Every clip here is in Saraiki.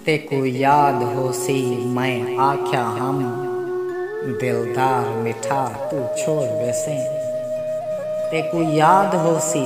تیکوں یاد ہوسی میں آکھیا ہم دلدار مٹھا توں چھوڑ ویسیں تیکوں یاد ہوسی۔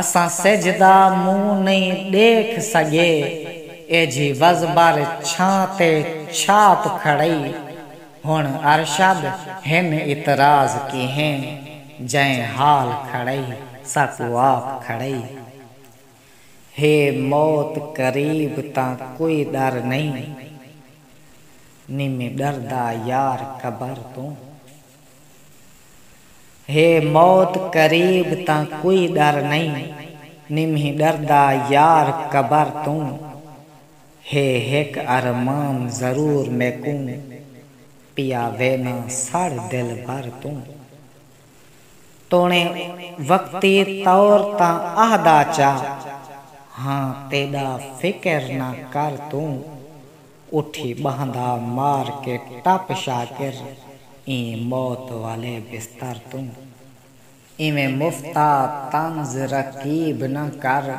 اساں سجھ دا منہ نئیں ڈیکھ سگے ایجھی وزبر چھاں تے چھاپ کھڑئی ہن ارشد ہن اعتراض کیہیں جئیں حال کھڑئی ساکو آپ کھڑئی ہے موت قریب تاں کوئی ڈر نئیں نی میں ڈردا یار قبر توں۔ ہے موت قریب تاں کوئی ݙر نئیں نمہیں ݙردا یار قبر توں ہے ہک ارمان ضرور میکوں پیا وینا سڑ دلبر توں توݨیں وقتی طور تاں آہدا چا ہاں تیݙا فکر نہ کر توں اٹھی ٻہندا مار کے ٹپ شاکر ایں موت والے بستر توں۔ ایویں مفتا طنز رقیب نہ کر۔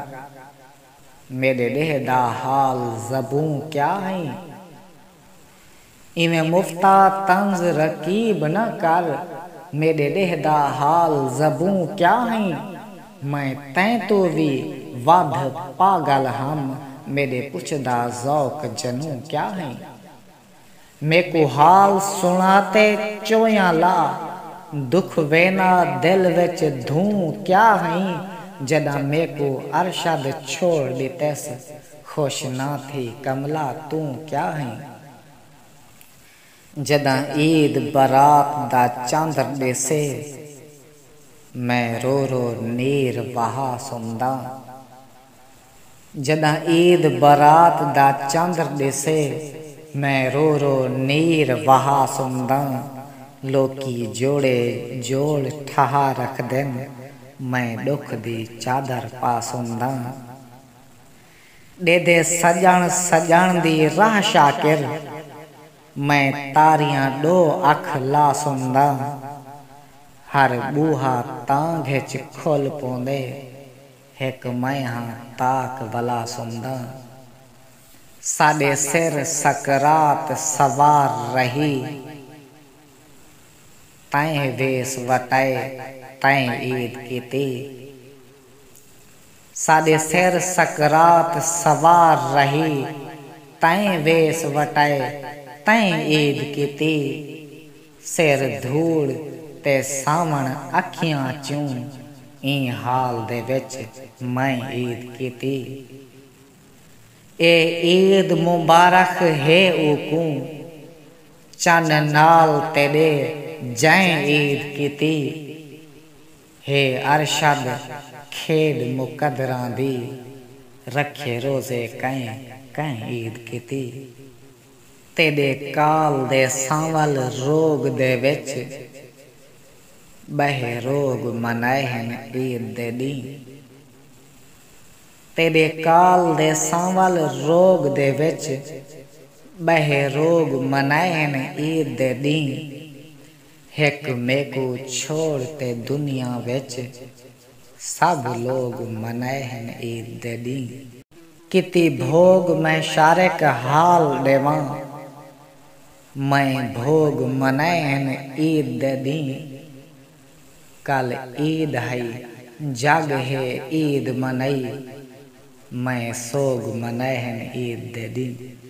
میݙے ݙیہہ دا حال زبوں کیا ہئیں۔ ایویں مفتا طنز رقیب نہ کر۔ میݙے ݙیہہ دا حال زبوں کیا ہئیں۔ میں تیں توں وی ودھ پاگل ہم میڈے پچھ دا ذوق جنوں کیا ہئیں میکوں حال سنا تے چویاں لا دکھ وینا دل وچ دھوں کیا ہئیں جڈاں میکوں ارشد چھوڑ ڈتیس خوش نہ تھی کملا توں کیا ہئیں جݙاں عید برات دا چاندر ݙیسے میں رو رو نیر وہا سمداں جݙاں عید برات دا چاندر ݙیسے میں رو رو نیر وہا سمداں لوکی جوڑے جوڑ ٹھہا رکھدن میں ݙکھ دی چادر پا سمداں ݙیدھے سڄݨ سڄݨ دی راہ شاکر میں تاریاں ݙو اکھ لا سݨداں ہر ٻوہا تاں گھچ کھل پوندے ہک میں ہاں تاک ولا سݨداں ساݙے سر سکرات سوار رہی تئیں ویس وٹائے تئیں عید کیتی ساݙے سر سکرات سوار رہی تئیں ویس وٹائے تئیں عید کیتی سر دھوڑ تے ساوݨ اکھیاں چوں ایں حال دے وچ میں عید کیتی اے عید مبارخ ہے اوکوں چن نال تیݙے جئیں عید کیتی۔ ہے ارشد کھیݙ مقدراں دی رکھے روزے کئیں کئیں عید کیتی تیݙے کال دے سانول روڳ دے وچ ٻہے روڳ منائے ہن عید دے ݙینہہ تیݙے کال دے سانول روڳ دے وچ ٻہے روڳ منائے ہن عید دے ݙینہہ ہک میکوں چھوڑ تے دنیا وچ سبھ لوگ منائے ہن عید دے ݙینھ۔ کیتی بھوڳ میں شارق حال ݙیواں میں بھوڳ منائے ہن عید دے ݙینھ کل عید ہئی جڳ ہے عید منائی میں سوڳ منائے ہن عید دے ݙینھ۔